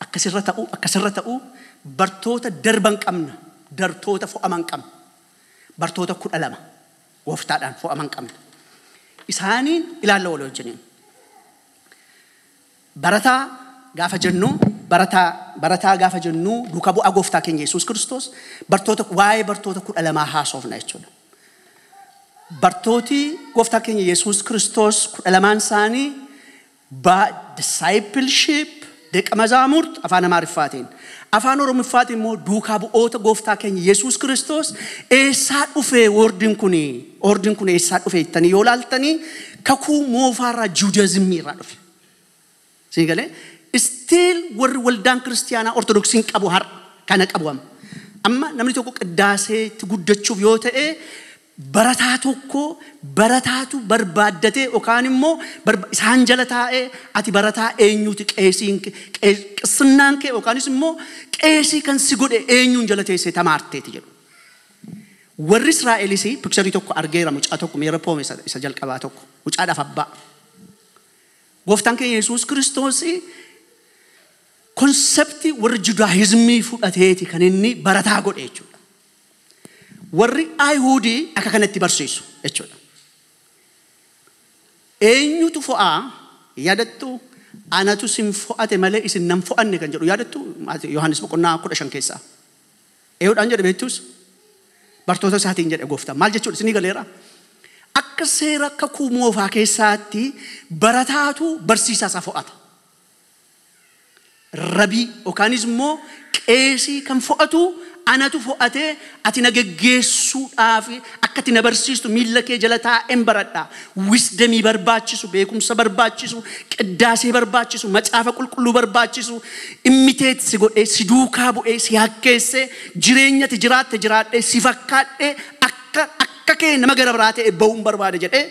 Akka sirra ta'uu, akka sirra ta'uu bartoota darban qabna, dartoota fo'aman qabna. Bartoota 12 gooftaadhaan fo'aman qabna. Isaaniin ilaalla walii wajjiniin. Barataa gaafa jennuu barataa barataa gaafa jennuu duuka bu'aa gooftaa keenya Yesuus Kiristoos bartoota waa'ee bartoota kudha lamaa haasoofna jechuudha. Bartooti gooftaa keenya Yesuus Kiristoos kudha lamaan isaanii baa discipleship deqa mazaamurt afaan Amaariffaatiin afaan Oromiffaatiin immoo duukaa bu'oota gooftaa keenya Yesuus Kiristoos eessaa dhufee woordiin kun woordiin kun eessaa dhufee ittanii yoo laaltanii kakuu moofaarraa juudazimii irraa dhufe. Sii galee? Still warri waldaan kiristiyaanaa ortodoksiin qabu har'a kana qabu amma. Amma namni tokko qiddaaseetti guddachuuf yoo ta'e barataa tokko barataatu barbaaddatee yookaan immoo barba- isaan jala taa'ee ati barataa eenyuuti qeesiin kee- qee- qissinnaan kee yookaanis immoo qeesii kan si godhe eenyuun jala teessee tamaarteeti jedhu. Warri Israa'elis pikcharii tokko argeera mucaa tokko miira poome isa isa jalqabaa tokko mucaadhaaf abbaa. Gooftaan keenya Yesuus Kiristoos konseptii warri Judaayizmii fudhateeti kan inni barataa godhe jechuudha. Warri Ayihuudii akka kanatti barsiisu jechuudha. Eenyutu fo'aa yaadattu anatu isin fo'ate malee isin nan fo'anne kan jedhu yaadattu Yohaannis boqonnaa kudha shan keessaa. Eeyyuudhaan jedhe beektuus bartoota isaatiin jedhe gooftaan. Maal jechuudha isinii galeera? Akka seera kakuu moofaa keessaatti barataatu barsiisaa isaa fo'ata. Rabii yookaanis immoo qeesii kan fo'atu anatu fo'atee ati na geggeessuudhaaf akka ati na barsiistu miilla kee jala taa'een baradha. wisdemii barbaachisu, beekumsa barbaachisu, qiddaasee barbaachisu, macaafa qulqulluu barbaachisu, immitate si godhee, si duukaa bu'ee, si hakkeessee, jireenyati jiraatte jiraadhee, si fakkaadhee, akka, akka kee nama gara biraa ta'e ba'uun barbaada jedhee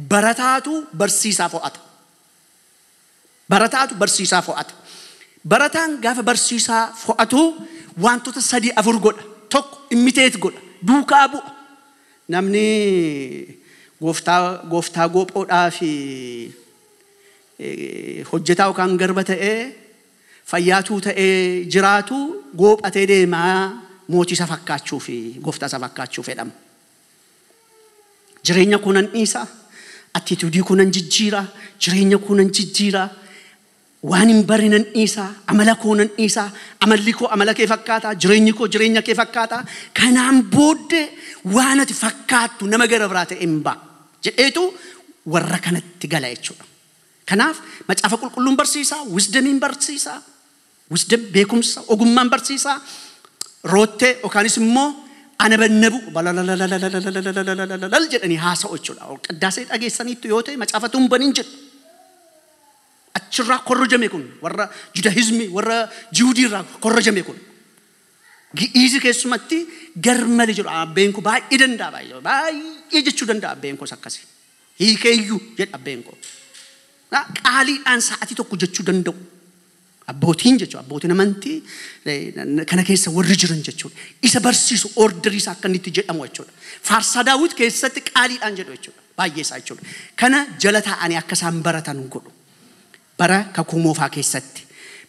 barataatu barsiisaa fo'ata. Barataatu barsiisaa fo'ata. Barataan gaafa barsiisaa fo'atu waantota sadii afur godha. Tokko immitate godha. Duukaa bu'a. Namni gooftaa gooftaa goophoodhaa fi hojjetaa yookaan garba ta'ee fayyaatuu ta'ee jiraatu goophatee deemaa mootii isaa fakkaachuu fi gooftaa isaa fakkaachuu fedhama. Jireenya koo nan dhiisa. Attituudii koo nan jijjiira. Jireenya koo nan jijjiira. Waan hin barre nan dhiisa. Amala koo nan dhiisa. Amalli koo amala kee fakkaata. Jireenyi koo jireenya kee fakkaata. Kanaan booddee waan ati fakkaattu nama gara biraa ta'e hin ba'a. Jedheetu warra kanatti gala jechuudha. Kanaaf macaafa qulqulluun barsiisa, wisdamiin barsiisa. Wisdom, beekumsa, ogummaan barsiisaa, roottee yookaanis immoo anabannabuu balalalalalalalalalalalalalal jedhanii haasa'u jechuudha. Qiddaasee dhageessaniittu yoo ta'e macaafa tun baniin jedhu. Achirraa korrojame kun warra judahizmii warra jiwudii irraa korrojame kun. Gi'iizi keessumatti garmale jedhu abbeen koo baay'ee danda'a baay'ee baay'ee jechuu danda'a abbeen koos akkasi. Hiikeeyyuu jedha abbeen koo. Qaaliidhaan sa'atii tokko jechuu danda'u. Abbootiin jechuun abbootiin amantii eh, kana keessa warri jiran jechuudha. Isa barsiisu orderii isaa akka inni itti jedhamu jechuudha. Faarsaa daawwit keessatti qaaliidhaan jedhu jechuudha. Baay'ee isaa jechuudha. Kana jala taa'anii akka isaan baratan godhu. Bara kakuu moofaa keessatti.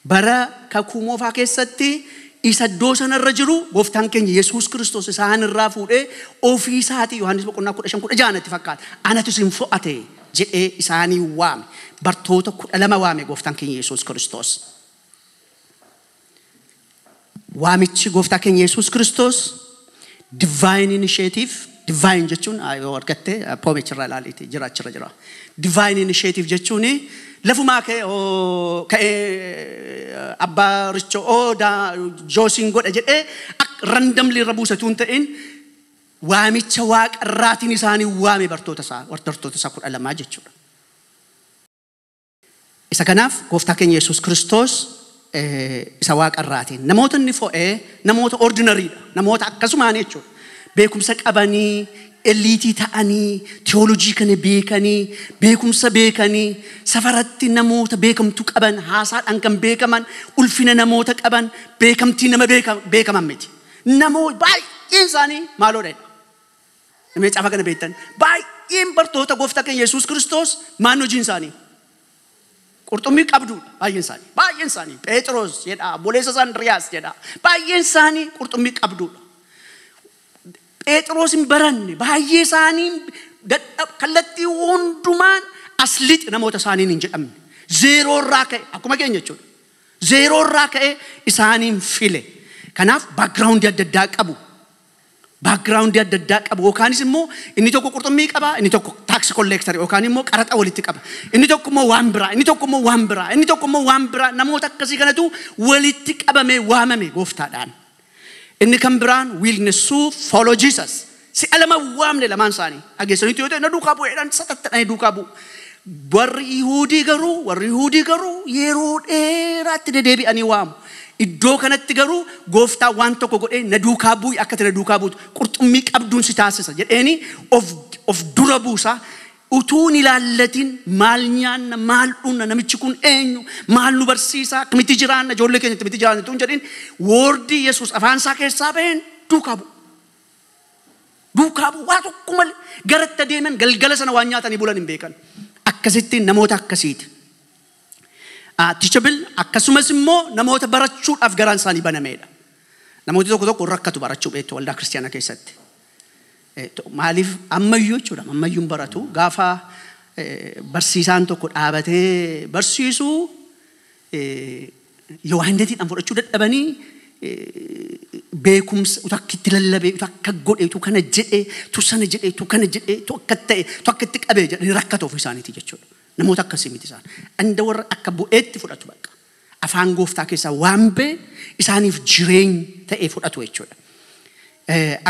Bara kakuu moofaa keessatti isa iddoo sanarra jiru gooftaan keenya Yesuus Kiristoos isaan irraa fuudhee ofii isaatii Yohaannis boqonnaa kudha shan kudha ja'a natti fakkaata. Anatu isin fo'ate. jedhee isaanii waame. Bartoota kudha lama waame gooftaan keenya Yesuus Kiristoos. Waamichi gooftaa keenya Yesuus Kiristoos divine initiative divine jechuun ah, yoo argatte ah, poomicha irraa ilaaliiti jira achirra jira. Divine initiative jechuun lafumaa ka'e oo ka'ee eh, abbaa richo oo daa joosiin godha jedhee randomly irra buusatu hin ta'in waamicha Waaqa irraatiin isaan in waame, bartoota isaa, bartoota isaa kudha lamaa jechuu dha. Isa kanaaf gooftaa keenya Yesuus Kiristoos isa Waaqa irraatiin namoota inni fo'e namoota ordinary dha, namoota akkasumaan jechuudha. Beekumsa qabanii, eliitii ta'anii, tiyoolojii kana beekanii, beekumsa beekanii, safaratti namoota beekamtu qaban, haasaadhaan kan beekaman, ulfina namoota qaban, beekamtii nama beeka- beekaman miti. Namoo baay'een isaanii maaloo dha. Namni caafa kana beektan baay'een bartoota gooftaa keenya Yesuus Kiristoos maan hojiin isaanii. Qurxummii qabdu baay'een isaanii. Baay'een isaanii Pheexiroos jedha, obboleessa isaa Indiriyaas jedha. Baay'een isaanii qurxummii qabduudha. Pheexiroos hin baranne baay'ee isaanii dadhab kallattii hundumaan as lixi namoota isaaniin hin jedhamne. Zeeroo irraa ka'e akkuma keenya jechuudha. Zeeroo irraa ka'ee isaaniin file. Kanaaf background adda addaa qabu. Background adda addaa qabu. Yookaanis immoo inni tokko qurxummii qaba, inni tokko tax collector yookaan immoo qaraxa walitti qaba. Inni tokko immoo waan biraa, inni tokko immoo waan biraa, inni tokko immoo waan biraa namoota akkasii kanatu walitti qabamee waamame gooftaadhaan. Inni kan biraan wiilnessuu follow Jesus. Si'a lama waamne lamaan isaanii. Dhageessaniitu yoo ta'e na duukaa bu'eedhaan satattadhanii duukaa bu'u. Warri Yihuudii garuu warri Yihuudii garuu yeroo dheeraatti dedeebi'anii waamu. Iddoo kanatti garuu gooftaa waan tokko godhee na duukaa bu'i akka ati na duukaa buutu qurxummii qabduun si taasisa jedheeni of, of dura buusa. Utuu hin ilaallatin maal nyaanna, maal dhugna, namichi kun eenyu, maal nu barsiisa, akkamitti jiraanna, ijoollee keenya akkamitti jiraanna utuu hin jedhin woordii Yesuus afaan isaa keessaa ba'een duukaa bu'u. Duukaa bu'u waa tokko malee gara itti adeeman galgala sana waan nyaatanii bulan hin beekan. Akkasittiin namoota akkasiiti. Ah, teachable akkasumas immoo namoota barachuudhaaf garaan isaanii banameedha. Namooti tokko tokko rakkatu barachuu beektu waldaa kiristaanaa keessatti. Maaliif ammayyuu jechuudha ammayyuun baratu gaafa barsiisaan tokko dhaabatee barsiisu yawaandeetiidhaan fudhachuu dadhabanii beekumsa utuu akka itti lallabee utuu akka godhe utuu kana jedhe utuu sana jedhe utuu kana jedhe utuu akka ta'e utuu akka itti qabee jedhanii rakkatu ofii isaaniitii jechuudha. Namoota akkasii miti isaan. Dhanda warra akka bu'eetti fudhatu bakka. Afaan gooftaa keessaa waan ba'e isaaniif jireenya ta'ee fudhatu jechuudha.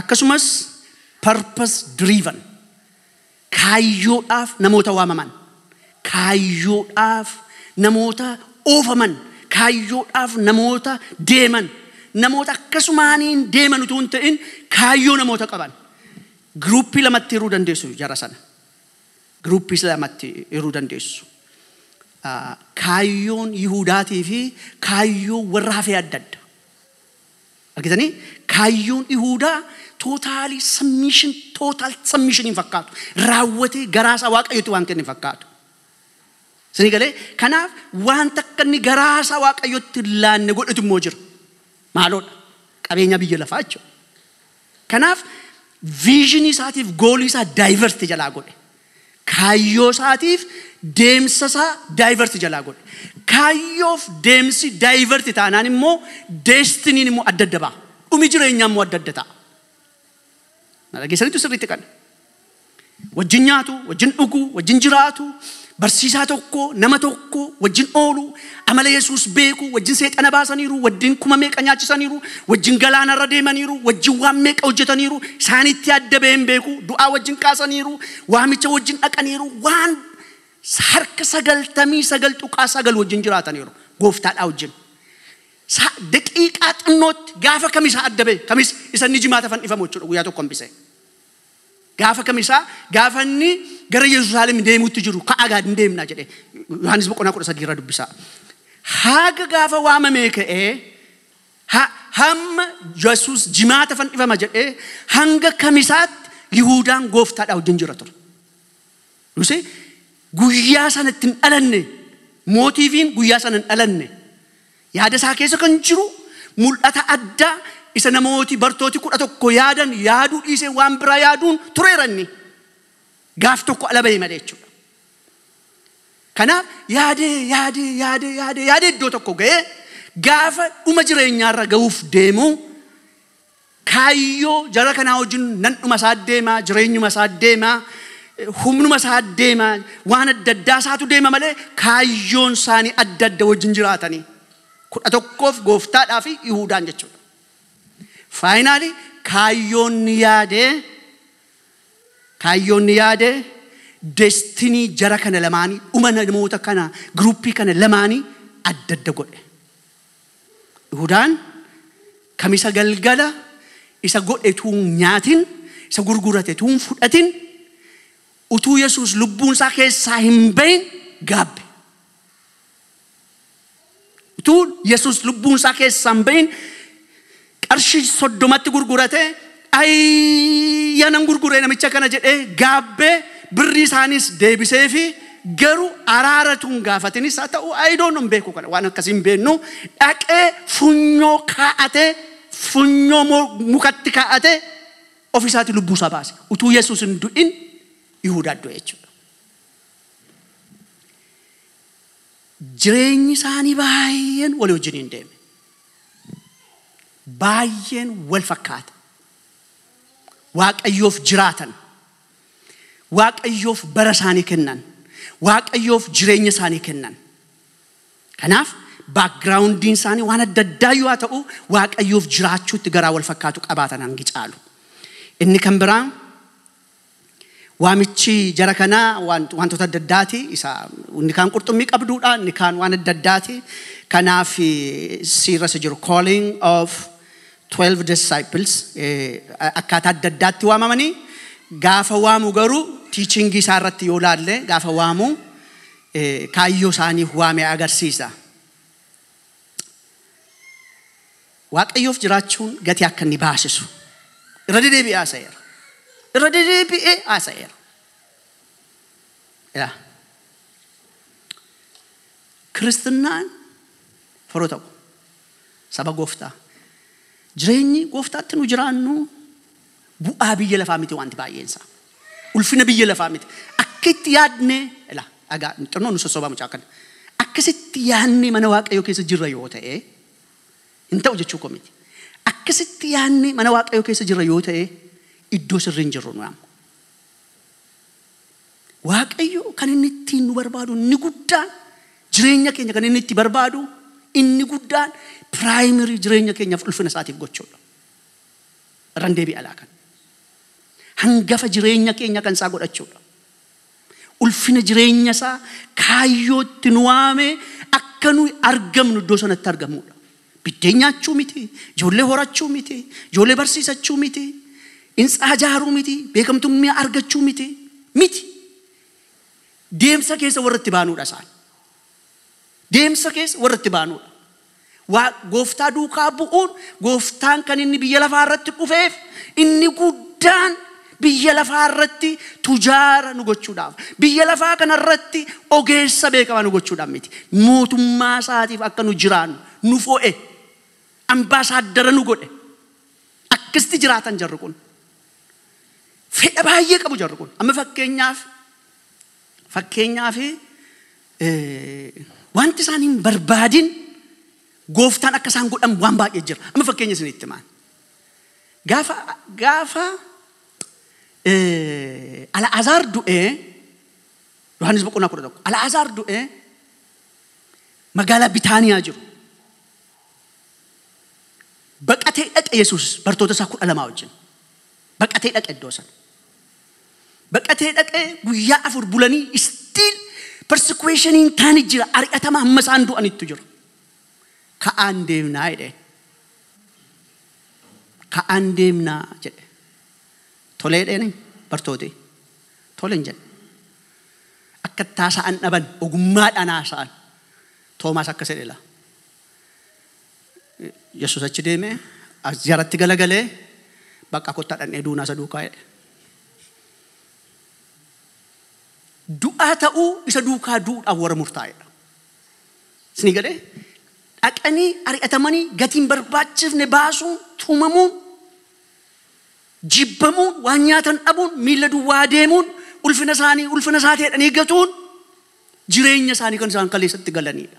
Akkasumas purpose driven kaayyoodhaaf namoota waamaman, kaayyoodhaaf namoota oofaman, kaayyoodhaaf namoota deeman, namoota akkasumaaniin deeman utuu hin ta'in kaayyoo namoota qaban. Giruuppii lamatti hiruu dandeessu jara sana. Groups lamatti hiruu dandeessu. Kaayyoon Yihuudaatii fi kaayyoon warra hafee adda adda. Argitanii? Kaayyoon Yihuudaa tootaalii submission, total submission hin fakkaatu. Raawwatee garaa isaa Waaqayyotti waan kenne hin fakkaatu. Isinii galee? Kanaaf wanta akka inni garaa isaa Waaqayyotti hin laanne godhetu immoo jira. Maaloodha? Qabeenya biyya lafaa jechuudha. Kanaaf vision isaatiif goolii isaa divert jalaa godhe. Kaayyoo isaatiif deemsa isaa divert jalaa godhe. Kaayyoof deemsi divert taanaan immoo destiniin immoo adda adda ba'a. Dhumi jireenyaa immoo adda adda ta'a. Na dhageessanitu sirriitti kana. Wajjin nyaatu, wajjin dhugu, wajjin jiraatu, barsiisaa tokko, nama tokko, wajjin oolu, amala Yesuus beeku, wajjin seexana baasaniiru, wajjin kuma meeqa nyaachisaniiru, wajjin galaanarra deemaniiru, wajjin waan meeqa hojjetaniiru, isaanitti adda ba'een beeku, du'aa wajjin kaasaniiru, waamicha wajjin dhaqaniiru, waan harka sagaltamii sagal tuqaa sagal wajjin jiraataniiru gooftaadhaa wajjin. Sa- Daqiiqaa xinnootti gaafa kamisaa adda ba'e kamis isa inni jimaata fannifamu jechuudha guyyaa tokko hambisee. Gaafa kamisaa gaafa inni gara Yerusaalem deemuutti jiru ka'aa gaad hin deemna jedhe. Yohaannis boqonnaa kudha sadii irra dubbisaa. Haaga gaafa waamamee ka'ee ha- hamma Yesuus jimaata fannifama jedhee hanga kamisaatti Yihuudaan gooftaadhaa wajjin jira ture. dhuse guyyaa sana itti hin dhalanne mootiifiin guyyaa sana hin dhalanne yaada isaa keessa kan jiru mul'ata addaa isa namooti bartooti kudha tokko yaadan yaaduu dhiisee waan biraa yaaduun tureera inni gaaf tokko ala ba'e malee jechuudha. Kanaaf yaadee yaadee yaadee yaadee yaadee iddoo tokko ga'ee gaafa dhuma jireenyaarra ga'uuf deemu Kaayyoo jara kanaa wajjin nan dhuma isaa deema, jireenyuma isaa deema, humnuma isaa deema, waan adda addaa isaatu deema malee kaayyoon isaanii adda adda wajjin jiraatanii. kudha tokkoof gooftaadhaa fi Yihuudaan jechuudha. Faayinaali kaayyoon ni yaade kaayyoon ni yaade destinii jara kana lamaanii dhuma namoota kana giruuppii kana lamaanii adda adda godhe. Yihudaan Kamisa galgala isa godhe utuu hin nyaatin, isa gurgurate utuu hin fudhatin, utuu Yesuus lubbuun isaa keessaa hin bahin gaabbe. Utuu Yesuus lubbuun isaa keessaa hin bahin qarshi soddomatti gurgurate ayya nan gurgure namicha kana jedhee gaabbee birrii isaaniis deebiseefi garu araara tun gaafatinis haa ta'u ayidoon hin beeku kana waan akkasii hin beennu dhaqee funyoo kaa'ate funyoo moo mukatti kaa'ate ofiisaati lubbuu isaa baase utuu yesuus hin du'in yihuudaa du'e jechuudha. Jireenyi isaanii baay'een walii wajjin hin deeme. baay'een wal fakkaata. Waaqayyoof jiraatan, Waaqayyoof bara isaanii kennan, Waaqayyoof jireenya isaanii kennan. Kanaaf baakgiraawundiin isaanii waan adda addaa yoo haa ta'u Waaqayyoof jiraachuutti garaa wal fakkaatu qabaatan hangi caalu. Inni kan biraa Waamichi jara kanaa waantota adda addaati. Isa inni kaan qurxummii qabduudha, inni kaan waan adda addaati. Kanaaf siirra isa jiru calling of 12 disciples akkaataa adda addaatti waamamanii gaafa waamu garuu tiichingii isaa irratti yoo laalle gaafa waamu kaayyoo isaaniif waame agarsiisa. Waaqayyoof jiraachuun gatii akka inni baasisu irra dedeebi'ee haasa'eera. Irra dedeebi'ee haasa'eera. Yaa. Kiristinnaan firoo ta'u saba gooftaa jireenyi gooftaatti nu jiraannu bu'aa biyya lafaa miti wanti baay'een isaa ulfina biyya lafaa miti akka itti yaadne ila dhagaa xinnoo nu sossobaa mucaa kana akkasitti yaadne mana waaqayyoo keessa jirra yoo ta'e Hin ta'u jechuu koo miti. Akkasitti yaadnee mana Waaqayyoo keessa jirra yoo ta'e iddoo sirrii hin jirru nuyi amma. Waaqayyo kan inni ittiin nu barbaadu inni guddaan jireenya keenya kan inni itti barbaadu inni guddaan piraayimirii jireenya keenyaaf ulfina isaatiif gochuudha. Irraan deebi'alaa kan hangafa jireenya keenya kan isaa godhachuudha. Ulfina jireenya isaa kaayyoo itti nu waame akka nuyi argamnu iddoo sanatti argamuudha. Biddeen nyaachuu miti, ijoollee horachuu miti, ijoollee barsiisachuu miti, hintsaa ijaaruu miti, beekamtummaa argachuu miti, miti. Deemsa keessa warra itti baanuudha isaan. deemsa keessa warra itti baanuudha. Waa- Gooftaa duukaa bu'uun gooftaan kan inni biyya lafaa irratti dhufeef inni guddaan biyya lafaa irratti tujaara nu gochuudhaaf biyya lafaa kana irratti ogeessa beekamaa nu gochuudhaaf miti mootummaa isaatiif akka nu jiraannu nu fo'e ambaasaaddara nu godhe akkasitti jiraatan jarri kun fedha baay'ee qabu jarri kun amma fakkeenyaaf Fakkeenyaaf, wanti isaan hin barbaadin gooftaan akka isaan godhan waan baay'ee jira. Amma fakkeenya isinitti himaan. Gaafa, gaafa eh, Alaazaar du'ee, Yohaannis boqonnaa kudha tokko, Alaazaar du'ee magaalaa Bitaaniyaa jiru. Baqatee dhaqe Yesuus bartoota isaa kudha lamaa wajjin. Baqatee dhaqe iddoo sana. Baqatee dhaqee guyyaa afur bulanii still persekueshiniin taani jira ari'atama hamma isaan du'anittu jira. Ka'aan deemnaa jedheen. Ka'aan deemnaa jedhe. Tolee jedheen bartootee. Tole hin jedhe. Akka itti haasa'an dhaban ogummaadhaan haasa'an. Toomaas akkas jedhe laa. Yesus achi deemee as jaratti galagalee bakka kottaa dhaqnee duunaa isa duukaa jedhe. Du'aa ta'uu isa duukaa du'uudhaaf warra murtaa'edha. Isinii galee dhaqanii ari'atamanii gatiin barbaachifne baasuun tumamuun jibbamuun waan nyaatan dhabuun miila duwwaa deemuun ulfina isaanii ulfina isaa ta'edhanii gatuun jireenya isaanii kan isaan kaleessatti galaniidha.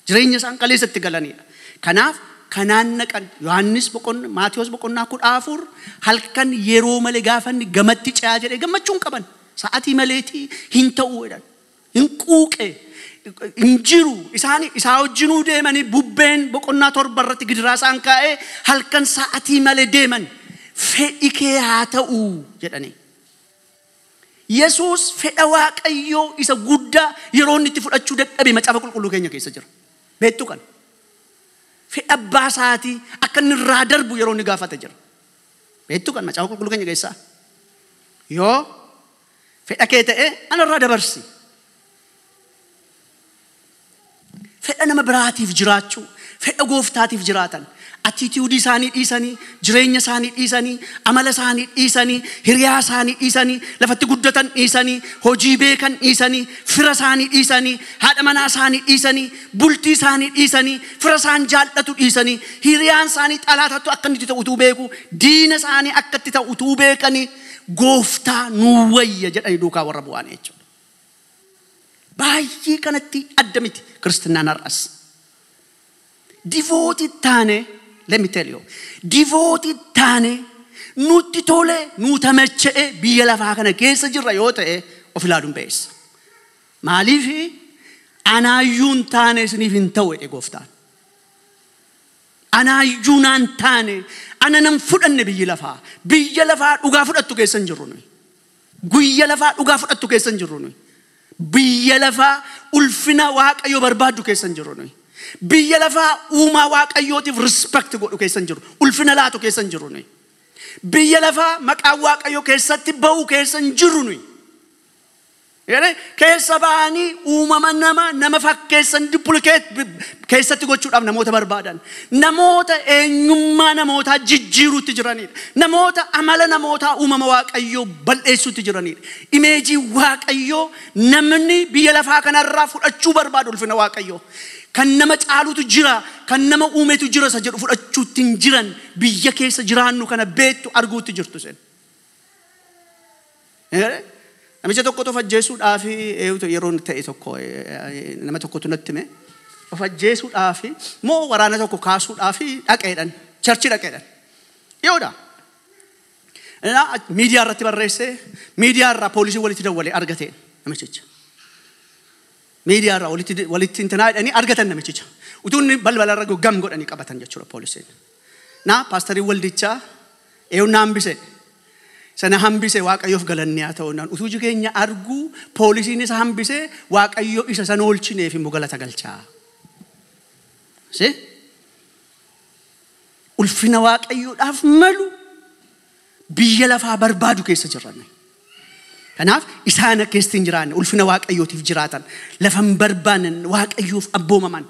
Jireenya isaan kaleessa itti galaniidha. Kanaaf kanaan naqan Yohaannis boqonnaa Maatiyos boqonnaa kudha afur halkan yeroo malee gaafa inni gamatti ce'aa jedhee gammachuu hin qaban. Sa'atii maleetii hin ta'uu jedhan. Hin quuqe. Hin jiru. Isaan isaa wajjinuu deemanii bubbeen boqonnaa torba irratti gidiraa isaan kaa'ee halkan sa'atii malee deeman. Fedhi kee haa ta'u jedhanii. Yesuus fedha Waaqayyoo isa guddaa yeroo inni itti fudhachuu dadhabe Macaafa Qulqulluu keenya keessa jira. Beektu kana. Fedha abbaa isaatii akka inni irraa darbu yeroo inni gaafate jira. Beektu kana Macaafa Qulqulluu keenya keessaa. Yoo fedha kee ta'e ana irraa dabarsi. Fedha nama biraatiif jiraachuu, fedha gooftaatiif jiraatan. Attitude isaanii dhiisanii, jireenya isaanii dhiisanii, amala isaanii dhiisanii, hiriyaa isaanii dhiisanii, lafatti guddatan dhiisanii, hojii beekan dhiisanii, fira isaanii dhiisanii, haadha manaa isaanii dhiisanii, bultii isaanii dhiisanii, fira isaan jaallatu dhiisanii, hiriyaan isaanii xalaatattu akka inni itti ta'u utuu beeku, diina isaanii akka itti ta'u utuu beekanii, gooftaa nuu wayya jedhanii duukaa warra bu'aanii jechuudha. Baay'ee kanatti adda miti Kiristinnaan har'as. Divootii taane, let me tell you, divootii taane nutti tole, nu tamacha'e biyya lafaa kana keessa jirra yoo ta'e of ilaaluun ba'eessa. Maaliif anaayyuu hin taane isiniif hin ta'u jedhe gooftaan. Anaayyuu naan taane, ana nan fudhanne biyyi lafaa. Biyya lafaa dhugaa fudhattu keessa hin jirru nuyi. Guyya lafaa dhugaa fudhattu keessa hin jirru nuyi. Biyya lafaa ulfina Waaqayyoo barbaaddu keessa hin jirru nuyi. Biyya lafaa uumaa Waaqayyootiif respect godhu keessa hin jirru. Ulfina laatu keessa hin jirru nuyi. Biyya lafaa maqaan Waaqayyoo keessatti ba'u keessa hin jirru nuyi. Jedhee keessa ba'anii uumama nama nama fakkeessan duplicate keessatti gochuudhaaf namoota barbaadan. Namoota eenyummaa namootaa jijjiiruutti jiranidha. Namoota amala namootaa uumama Waaqayyoo bal'eessuutti jiranidha. Imeejii Waaqayyoo namni biyya lafaa kanarraa fudhachuu barbaadu ulfina Waaqayyoo. Kan nama caalutu jira, kan nama uumetu jira isa jedhu fudhachuutti hin jiran. Biyya keessa jiraannu kana beektu arguutti jirtu isin. Namicha tokkotu of ajjeesuudhaaf yeroon ta'e tokko nama tokkotu natti hime. Of ajjeesuudhaaf moo waraana tokko kaasuudhaaf dhaqeedhan. Charchi dhaqeedhan. Dhiyoodha. Innaa miidiyaa irratti barreessee miidiyaa irraa poolisiin walitti dawwalee argateen namichicha. Media irraa walitti walitti intinaa jedhanii argatan namichicha. Utuu inni balbala irra gahu gam godhanii qabatan jechuudha poolisiin. Na paastariin waldichaa eeyyuu na hambise. Isa na hambise waaqayyoof galanni haa ta'u naan utuu iji keenya arguu poolisiin isa hambise waaqayyo isa san oolchineef immoo galata galchaa. See? Ulfina waaqayyoodhaaf malu biyya lafaa barbaadu keessa jirra nuyi. Kanaaf isaan akka keessa hin jiraanne ulfina waaqayyootiif jiraatan lafa hin barbaanne waaqayyoof abboomaman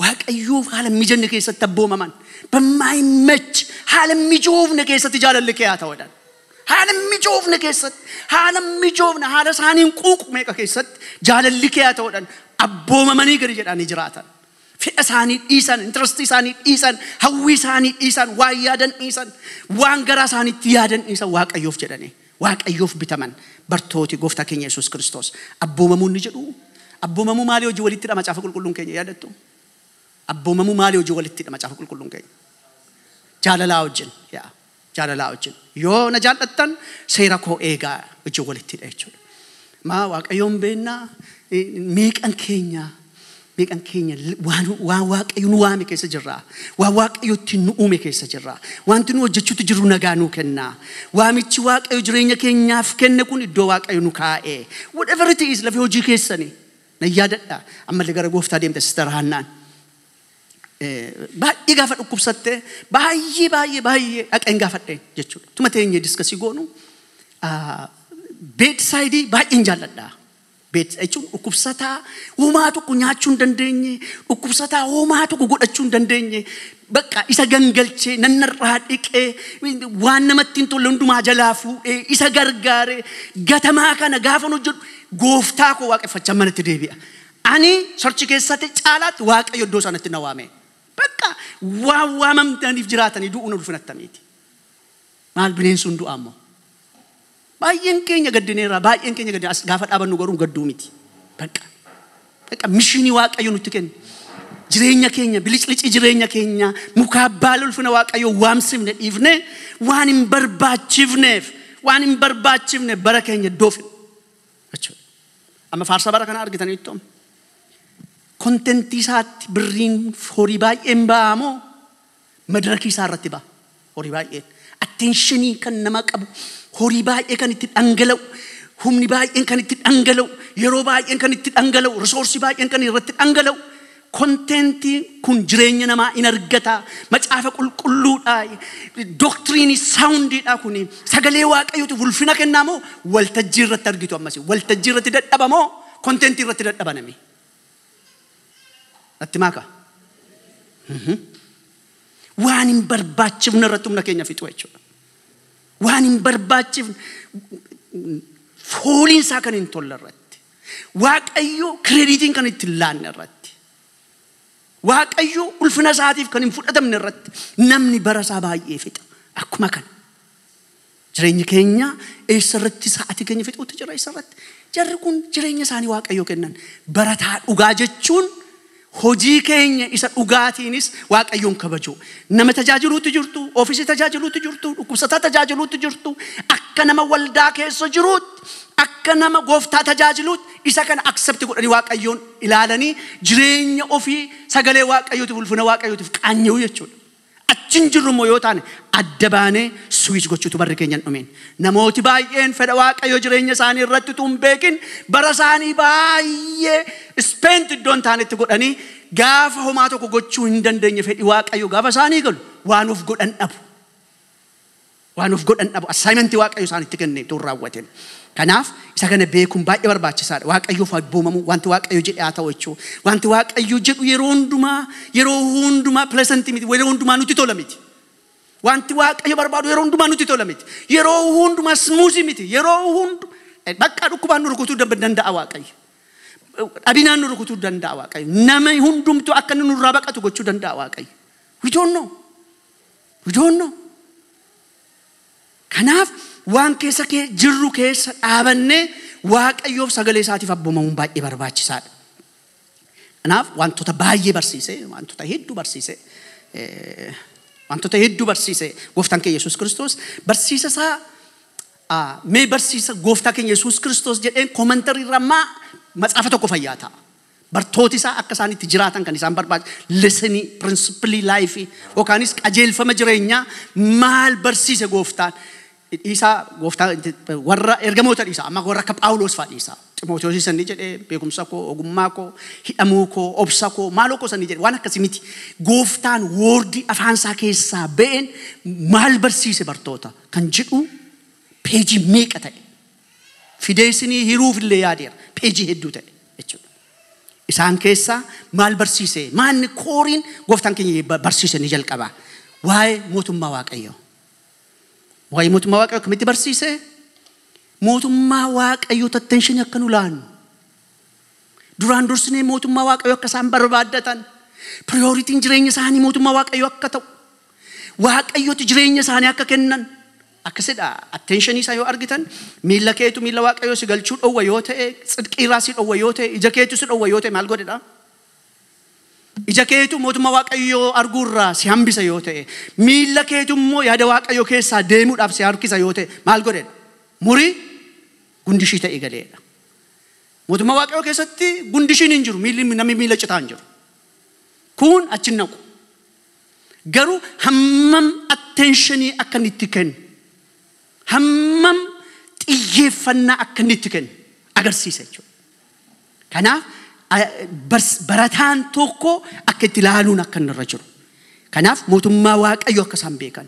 waaqayyoof haala hin mijanne keessatti abboomaman bammaayimmachi haala hin mijoofne keessatti jaalalli kee haa ta'uudhaan haala hin mijoofne keessatti haala hin mijoofne haala isaaniin quuqu meeqa keessatti jaalalli kee haa ta'uudhaan abboomamanii gadi jedhanii jiraatan Fedha isaanii dhiisan, interest isaanii dhiisan, hawwii isaanii dhiisan, waan yaadan dhiisan, waan garaa isaaniitti yaadan dhiisan Waaqayyoof jedhanii Waaqayyoof bitaman bartooti gooftaa keenya Yesuus Kiristoos abboomamuu inni jedhu abboomamuu maalii hojii walittidha macaafa qulqulluun keenya yaadattu? Abboomamuu maalii hojii walittidha macaafa qulqulluun keenya? Jaalalaa wajjin yaa Jaalalaa wajjin yoo na jaallattan seera koo eegaa wajjin walitti hidha jechuudha. Maa waaqayyoon beennaa meeqan keenya meeqan keenya waan waan waaqayyo nu waame keessa jirra. Waan waaqayyo ittiin nu uume keessa jirra. Wanti nu hojjechuutti jirru nagaa nuu kenna. Waamichi waaqayyo jireenya keenyaaf kenne kun iddoo waaqayyo nu kaa'e. Whatever it is lafee hojii keessanii na yaadadha. Ammallee gara gooftaa deemte sister Haannaan. Baay'ee gaafa dhukkubsatte baay'ee baay'ee baay'ee dhaqeen gaafadheen jechuudha. Tuma teenyee diskasii goonu beedsaayidii baay'een jaalladha. Beedsa jechuun dhukkubsataa homaa tokko nyaachuu hin dandeenye, dhukkubsataa homaa tokko godhachuu hin dandeenye, bakka isa gangalchee nannarraa dhiqee waan namatti hin tolle hundumaa jalaa fuudhee isa gargaaree gatamaa kana gaafan hojjedhu gooftaa koo waaqeffachaa manatti deebi'a. Ani church keessati caalaatti Waaqayyo iddoo sanatti na waame. Bakka waan waamamtaniif jiraatanii du'uun ulfina attamiiti. Maal bineensuun du'aa immoo. Baay'een keenya gaddineerra, baay'een keenya gaddine as gaafa dhaabannu garuu gadduu miti. Bakka bakka mishiinii Waaqayyo nutti kenne. Jireenya keenya biliclicii jireenya keenya mukaa baala ulfina Waaqayyo waamsifne dhiifne waan hin barbaachifneef waan hin barbaachifne bara keenya iddoo fidna. jechuudha. Amma faarsaa bara kana argitaniittu amma. Kontentii isaatti birriin horii baay'een ba'aa moo madirakii isaa irratti ba'a horii baay'een. Atteenshinii kan nama qabu horii baay'ee kan itti dhangala'u humni baay'een kan itti dhangala'u yeroo baay'een kan itti dhangala'u risoorsii baay'een kan irratti dhangala'u Konteentiin kun jireenya namaa in argata. Macaafa qulqulluudha. Doktiriinii saawundiidha kuni. Sagalee waaqayyootiif ulfina kennaa moo waltajjii irratti argitu ammasi. Waltajjii irratti dadhaba moo konteentii irratti dadhaba nami. Natti maaka. Waan hin barbaachifne irratti humna keenya fixu jechuudha. Waan hin barbaachifne fooliin isaa kan hin tolle irratti. Waaqayyo kireediitiin kan itti hin laanne irratti, Waaqayyo ulfina isaatiif kan hin fudhatamne irratti namni bara isaa baay'ee fixa. Akkuma kana jireenyi keenya eessa irratti sa'atii keenya fixuutti jira eessa irratti? Jarri kun jireenya isaanii Waaqayyo kennan. Barataa dhugaa jechuun Hojii keenya isa dhugaatiinis Waaqayyoon kabajuu. Nama tajaajiluutti jirtu, ofiisii tajaajiluutti jirtu, dhukkubsataa tajaajiluutti jirtu, akka nama waldaa keessa jiruutti, akka nama gooftaa tajaajiluutti isa kana accept godhanii Waaqayyoon ilaalanii jireenya ofii sagalee Waaqayyootiif ulfina Waaqayyootiif qaanya'uu jechuudha. Achi hin jirru immoo yoo taane, adda baanee switch gochuu tu barri keenya hin dhumiin. Namooti baay'een fedha Waaqayyoo jireenya isaanii irratti utuu hin beekin bara isaanii baay'ee spent iddoo hin taanetti godhanii gaafa homaa tokko gochuu hin dandeenye fedhi Waaqayyoo gaafa isaanii galu waan of godhan dhabu. Waan of godhan dhabu. Assignment Waaqayyo isaanitti kenne utuu hin raawwatin. Kanaaf isa kana beekuun baay'ee barbaachisaadha. Waaqayyoof abboomamuu, wanti Waaqayyo jedhe haa ta'u jechuu. Wanti Waaqayyo jedhu yeroo hundumaa, yeroo hundumaa pleasant miti, yeroo hundumaa nutti tola miti. Wanti Waaqayyo barbaadu yeroo hundumaa nutti tola miti. Yeroo hundumaa smooth miti. Yeroo hundu bakka dhukkubaan nu rukutuu dab- danda'a Waaqayyo. Dhabinaan nu rukutuu danda'a Waaqayyo. Nama hundumtuu akka inni nurraa baqatu gochuu danda'a Waaqayyo. We don't know. We don't know. Kanaaf waan keessa kee jirru keessa dhaabannee Waaqayyoof sagalee isaatiif abboomamuun baay'ee barbaachisaadha. Kanaaf wantoota baay'ee barsiise, wantoota hedduu barsiise, eh, wantoota hedduu barsiise gooftaan keenya Yesuus Kiristoos barsiisa isaa ah, mee barsiisa gooftaa keenya Yesuus Kiristoos jedheen koomantarii irraa maa matsaafa tokko fayyaa ta'a. Bartooti isaa akka isaan itti jiraatan kan isaan barbaachi lessenii, principilii laayifii yookaanis qajeelfama jireenyaa maal barsiise gooftaan? Dhiisaa gooftaa warra ergamoota dhiisaa amma warra akka Phaawuloos fa'aa dhiisaa. Ximootiyoosii sanni jedhe beekumsa koo, ogummaa koo, hidhamuu koo, obsa koo, maaloo koo sanni jedhe waan akkasii miti. Gooftaan woordii afaan isaa keessaa ba'een maal barsiise bartoota kan jedhu peejii meeqa ta'e. fideessinii hiruuf illee yaadeera. Peejii hedduu ta'e jechuudha. Isaan keessaa maal barsiise? Maanni kooriin gooftaan keenya ba- barsiise ni jalqaba. Waa'ee mootummaa Waaqayyoo. Waa'ee mootummaa Waaqayyoo akkamitti barsiise? Mootummaa Waaqayyoo tattenshanii akka nu laannu. Duraan dursinee mootummaa Waaqayyoo akka isaan barbaaddatan. Priyooritiin jireenya isaanii mootummaa Waaqayyoo akka ta'u. Waaqayyotti jireenya isaanii akka kennan. Akkasidha attention isaa yoo argitan miila keetu miila waaqayyoo si galchuu dhowwa yoo ta'e tsidqii irraa si dhowwa yoo ta'e ija keetu si dhowwa yoo ta'e maal godhedha? Ija keetu mootummaa waaqayyoo arguu irraa si hambisa yoo ta'e miila keetu immoo yaada waaqayyoo keessaa deemuudhaaf si harkisa yoo ta'e maal godhedha? Murii gundishii ta'ii galeedha. Mootummaa waaqayyoo keessatti gundishiin hin jiru miilli namni miila citaa hin jiru. Kuun achi hin naqu. Garuu hammam attenshinii akka inni itti kennu, hammam xiyyeeffannaa akka inni itti kennu agarsiisa jechuudha. Kanaaf a- bars- barataan tokko akka itti ilaaluun akka inni irra jiru. Kanaaf mootummaa Waaqayyoo akka isaan beekan.